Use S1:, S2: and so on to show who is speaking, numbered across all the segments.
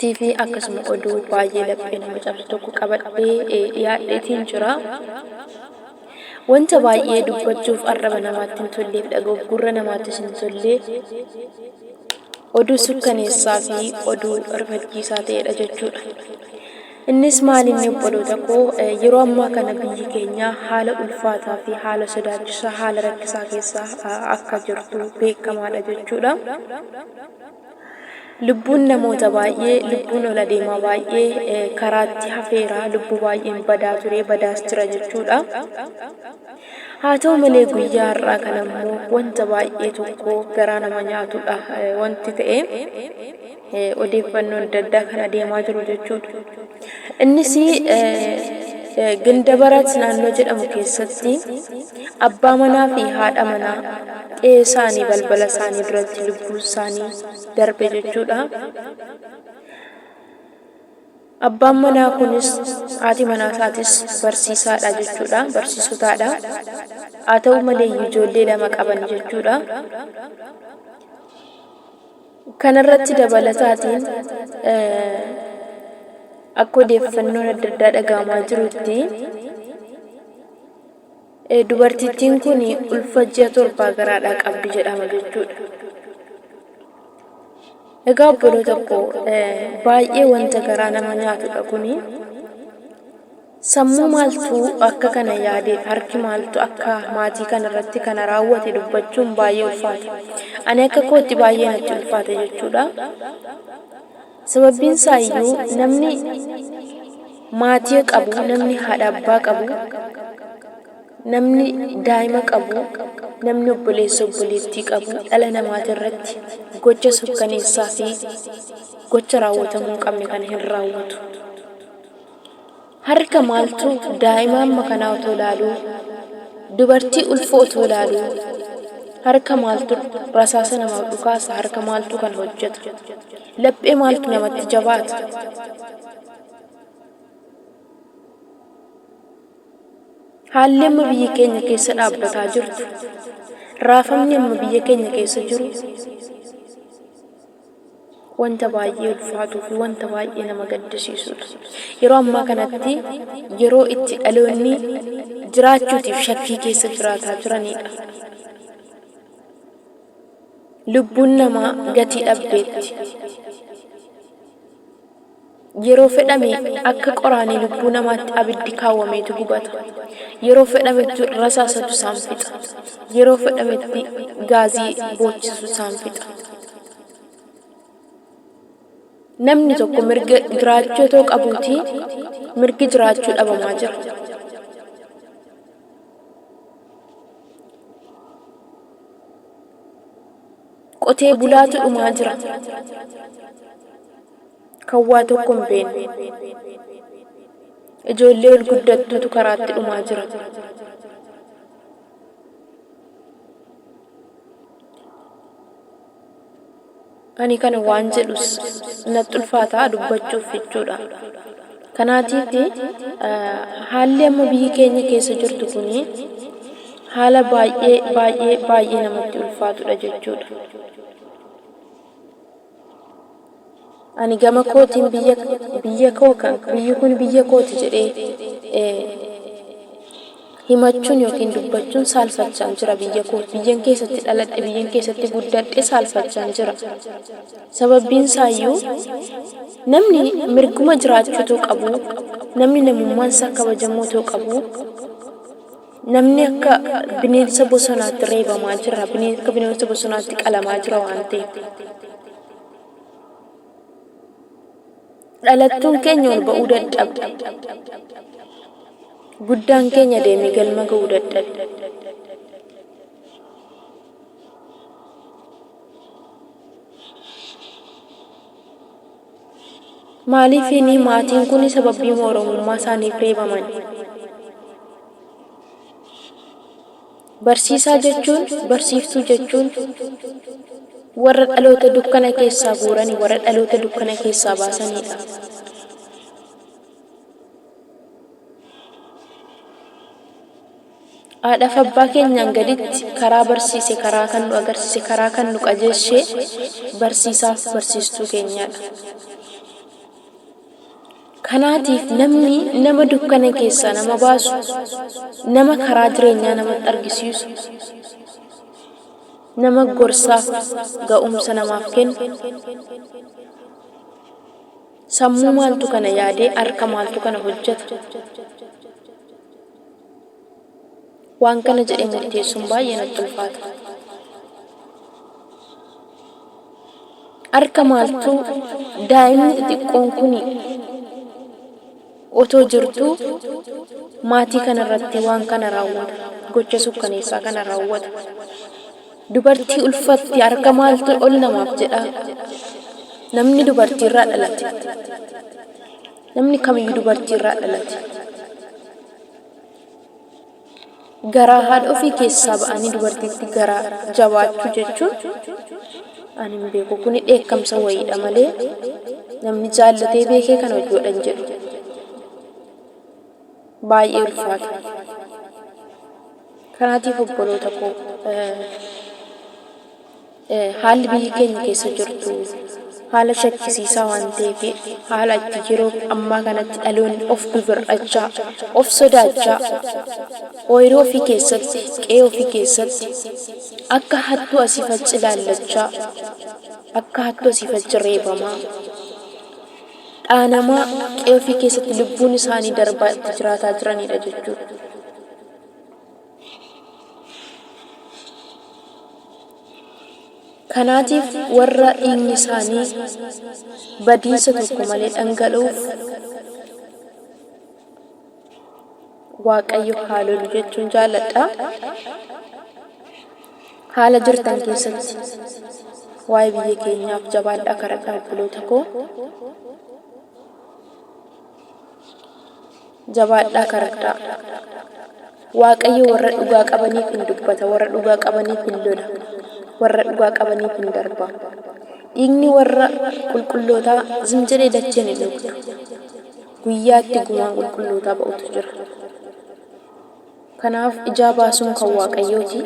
S1: TV akkasuma oduu baay'ee laphee nama cabsu tokko qabadhee eh, dhiyaadheetiin jira. Wanta baay'ee dubbachuuf arraba namaatti hin tolleef dhaga'uuf gurra namaattis hin tolle oduu sukkaneessaa fi oduu rifachiisaa ta'edha jechuudha. Innis maal inni obboloota koo eh, yeroo ammaa kana biyyi keenya haala ulfaataa fi haala sodaachisaa haala rakkisaa keessa ah, akka jirtu beekamaadha jechuudha. Lubbuun namoota baay'ee, lubbuun ol adeemaa baay'ee karaatti hafeera, lubbuu baay'een badaa ture, badaas jira jechuudha. Haa ta'u malee guyyaa har'aa kan ammoo wanta baay'ee tokko garaa nama nyaatudha wanti ta'e odeeffannoon adda addaa kan adeemaa jiru jechuudha. Innis Gindabarat naannoo jedhamu keessatti abbaa manaa fi haadha manaa qe'ee isaanii balbala isaanii duratti lubbuun isaanii darbe jechuudha. Abbaan manaa kunis haati manaa isaatis barsiisaadha jechuudha barsiisotaadha. Haa ta'u malee ijoollee lama qaban jechuudha. Kanarratti dabalataatiin akka odeeffannoon adda addaa dhagahamaa jirutti dubartittiin kun ulfa ji'a torbaa garaadhaa qabdi jedhama jechuudha. Egaa obboloota koo baay'ee wanta garaa nama nyaatudha kuni. Sammuu maaltu akka kana yaade, harki maaltu akka maatii kana irratti kana raawwate dubbachuun baay'ee ulfaata. Ani akka kootti baay'ee natti ulfaate jechuudha. Sababbiin isaa iyyuu namni maatii qabu, namni haadha abbaa qabu, namni daa'ima qabu, namni obboleessa obboleettii qabu dhala namaati irratti gocha sukkaneessaa fi gocha raawwatamuu hin qabne kana hin raawwatu. Harka maaltu daa'ima amma kanaa otoo ilaaluu, dubartii ulfoo otoo ilaaluu, harka maaltu rasaasa namaaf dhukaasa, harka maaltu kana hojjeta, laphee maaltu namatti jabaata? Haalli amma biyyi keenya keessa dhaabbataa jirtu, raafamni amma biyya keenya keessa jiru, wanta baay'ee ulfaatuu fi wanta baay'ee nama gaddisiisuudha. Yeroo ammaa kanatti yeroo itti dhaloonni jiraachuutiif shakkii keessa jiraataa jiraniidha. Lubbuun namaa gatii dhabdeetti. Yeroo fedhame akka qoraanii lubbuu namaatti abiddi kaawwameetu gubata. Yeroo fedhametti rasaasatu isaan fixa. Yeroo fedhametti gaazii boochisu isaan fixa. Namni tokko mirga jiraachuu otoo qabuutii mirgi jiraachuu dhabamaa jira. Qotee bulaatu dhumaa jira. kan waa tokko hin beekne. Ijoollee ol guddattuutu karaatti dhumaa jira. Ani kana waan jedhus natti ulfaataa dubbachuuf jechuudha. Kanaatiif haalli amma biyyi keenya keessa jirtu kun haala baay'ee baay'ee baay'ee namatti ulfaatudha jechuudha. ani gama kootiin biyya biyya koo kan biyyi kun biyya kooti jedhee eh, himachuun yookiin dubbachuun saalfachaan jira biyya koo biyyan keessatti dhaladhe biyyan keessatti guddadhe saalfachaan jira sababbiin isaayyuu namni mirguma jiraachuu too qabu namni namummaan isaa kabajamuu too qabu Namni akka bineensa bosonaatti reebamaa jira. Bineen- Akka bineensa bosonaatti qalamaa jira waan ta'eef. Dhalattuun keenya ol ba'uu dadhabde. Guddaan keenya deemee galma ga'uu dadhabe. Maaliifiini maatiin kun sababbiima Oromummaa isaaniif reebaman? Barsiisaa jechuun, barsiiftuu jechuun warra dhaloota dukkana keessaa guurani, warra dhaloota dukkana keessaa baasaniidha. Haadhaaf abbaa keenyaan gaditti karaa barsiise karaa kan nu agarsiise karaa kan nu qajeeshee barsiisaaf barsiistuu keenyaadha. Kanaatiif namni nama dukkana keessaa nama baasu nama karaa jireenyaa namatti argisiisu nama gorsaaf ga'umsa namaaf kennu sammuu maaltu kana yaadee harka maaltu kana hojjeta Waan kana jedhee murteessuun baay'ee natti ulfaata. Harka maaltuu daa'imni xixiqqoon kun otoo jirtuu maatii kana irratti waan kana raawwata. Gocha sukkaneessaa kana raawwata. Dubartii ulfatte harka maaltu ol namaaf jedhaa? Namni dubartiirraa dhalate. Namni kamiyyuu dubartii irraa dhalate. Garaa haadha ofii keessaa ba'anii dubartiitti garaa jabaachuu jechuun ani hin beeku. Kuni dheekkamsa wayiidha malee namni jaallatee beekee kana hojii godhan jedhu. Baay'ee ulfaata. Kanaatiif obboloota koo eh, Haalli biyyi keenya keessa jirtu haala shakkisiisaa waan ta'eef haala itti yeroo ammaa kanatti dhaloonni of bibir'achaa, of sodaachaa, ooyiruu ofii keessatti, qe'ee ofii keessatti akka hattuu asiif achi ilaallachaa, akka hattuu asiif achi reebamaa, dhaanamaa qe'ee ofii keessatti lubbuun isaanii darbaa itti jiraataa jiranidha jechuudha. Kanaatiif warra dhiigni isaanii badiisa tokko malee dhangala'uuf Waaqayyo haa lolu jechuun jaalladha. Haala jirtan keessatti waa'ee biyya keenyaaf jabaadhaa kadhadhaa obboloota koo. Jabaadhaa karadhaa! Waaqayyo warra dhugaa qabaniif in dubbata, warra dhugaa qabaniif in lola, warra dhugaa qabaniif in darba. Dhiigni warra qulqullootaa zim jedhee dacheen hin dhugdu. Guyyaa itti gumaan qulqullootaa ba'utu jira. Kanaaf ijaa baasuun kan Waaqayyooti.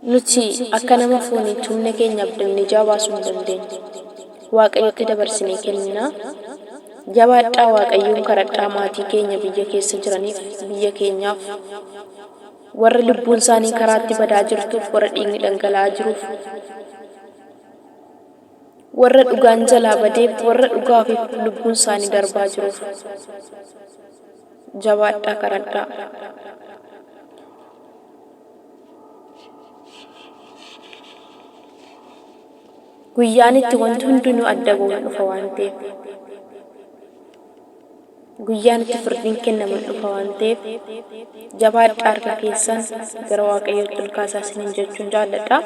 S1: Nuti akka nama foon hin tumne keenya abdannee ijaa baasuu hin dandeenyu. Waaqayyotti dabarsinee kennina. Jabaadhaa Waaqayyoon karadhaa maatii keenya biyya keessa jiraniif biyya keenyaaf warra lubbuun isaanii karaatti badaa jirtuuf warra dhiigni dhangala'aa jiruuf warra dhugaan jalaa badeef warra dhugaaf lubbuun isaanii darbaa jiruuf Jabaadhaa kadhadhaa. Guyyaan itti wanti hundinuu adda ba'u hin dhufa waan ta'eef. Guyyaan itti firdiin kennamu hin dhufa waan ta'eef. Jabaadhaa harka keessan gara Waaqayyootti ol kaasaa isiniin jechuun jaalladha.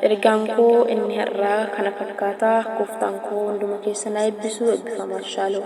S1: Ergaan koo inni har'aa kana fakkaata. Gooftaan koo hunduma keessan haa eebbisu. Eebbifamaa. Shalom.